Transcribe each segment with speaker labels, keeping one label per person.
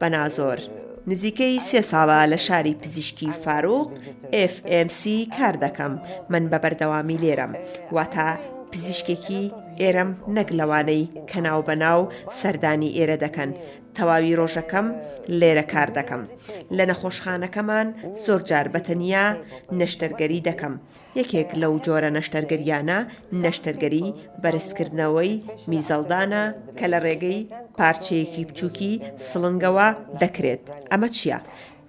Speaker 1: بەنازۆر، نزیکەی سێ ساڵە لە شاری پزیشکی فاروق FMC کار دەکەم، من بە بەردەوامی لێرەم، واتە پزیشکێکی ئێرەم نەک لەوانەی کە ناوبەناو سەردانی ئێرە دەکەن، تەواوی ڕۆژەکەم لێرە کار دەکەم. لە نەخۆشخانەکەمان زۆرجار بەتەنیا نەشتەرگەری دەکەم، یەکێک لەو جۆرە نەشتەرگەرییانە نەشتەرگەریی بەرزکردنەوەی میزەڵدانە کە لە ڕێگەی پارچەیەکی بچووکی سڵنگەوە دەکرێت. ئەمە چییە؟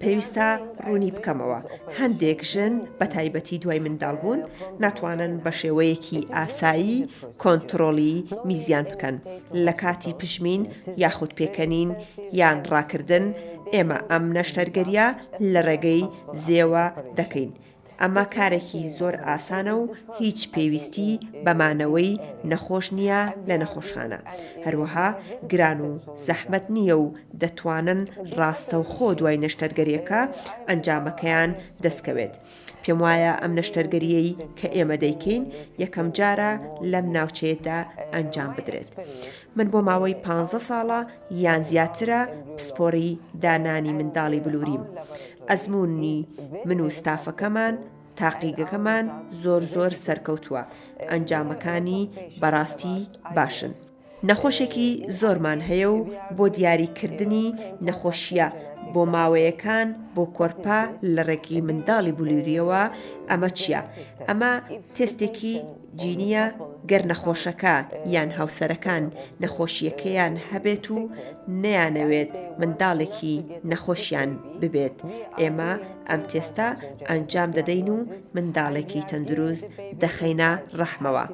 Speaker 1: پێویستە ڕوونی بکەمەوە، هەندێک ژن بە تایبەتی دوای منداڵبوون ناتوانن بە شێوەیەکی ئاسایی کۆنتڕۆڵی میزیان بکەن لە کاتی پژمین یاخود پێکەنین یان ڕاکردن، ئێمە ئەم نەشتەرگەرییە لە ڕێگەی زێوە دەکەین، ئەمە کارێکی زۆر ئاسانە و هیچ پێویستی بە مانەوەی نەخۆش نییە لە نەخۆشخانە، هەروەها گران و زەحمەت نییە و دەتوانن ڕاستەوخۆ دوای نەشتەرگەرییەکە ئەنجامەکەیان دەستکەوێت. پێموایە ئەم نەشتەرگەرییەی کە ئێمە دەیکەین یەکەمجارە لەم ناوچەیەدا ئەنجام بدرێت. من بۆ ماوەی پانزە ساڵە یان زیاترە پسپۆری دانانی منداڵی بلوریم. ئەزموونی من و ستافەکەمان، تاقیگەکەمان زۆر زۆر سەرکەوتووە، ئەنجامەکانی بەڕاستی باشن. نەخۆشێکی زۆرمان هەیە و بۆ دیاریکردنی نەخۆشییە بۆماوەیەکان بۆ کۆرپە لە ڕێگەی منداڵی بلورییەوە ئەمە چییە؟ ئەمە تێستێکی. جینییە گەر نەخۆشەکە یان هاوسەرەکان نەخۆشییەکەیان هەبێت و نەیانەوێت منداڵێکی نەخۆشیان ببێت ئێمە ئەم تێستە ئەنجام دەدەین و منداڵێکی تەندروست دەخەینە ڕەحمەوە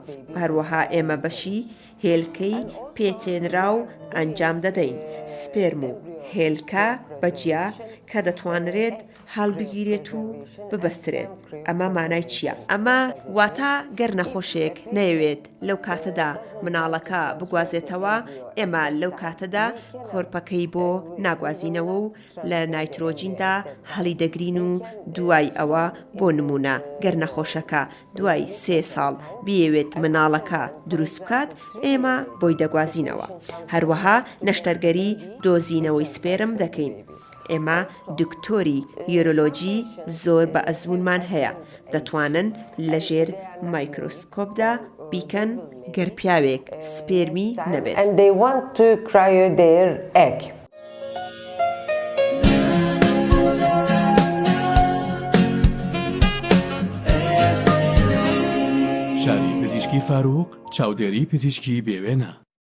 Speaker 1: هەروەها ئێمە بەشی هێلکەی پێتێنرا و ئەنجام دەدەین سپێرم و هێلکە بەجیا کە دەتوانرێت هەڵبگیرێت و ببەسترێت ئەمە مانای چییە؟ ئەمە واتا گەر نەخۆشێک نەیەوێت لەو کاتەدا مناڵەکە بگوازێتەوە ئێمە لەو کاتەدا کۆرپەکەی بۆ ناگوازینەوە و لە نایترۆجیندا هەڵیدەگرین و دوای ئەوە بۆ نمونە گەر نەخۆشەکە دوای سێ ساڵ بیەوێت مناڵەکە دروست بکات ئێمە بۆی دەگوازینەوە هەروەها نەشتەرگەری دۆزینەوەی سپێرم دەکەین ئێمە دکتۆری یۆرۆلۆجی زۆر بە ئەزموونمان هەیە، دەتوانن لە ژێر مایکرۆسکۆپدا بیکەن گەر پیاوێک سپێرمی نەبێت.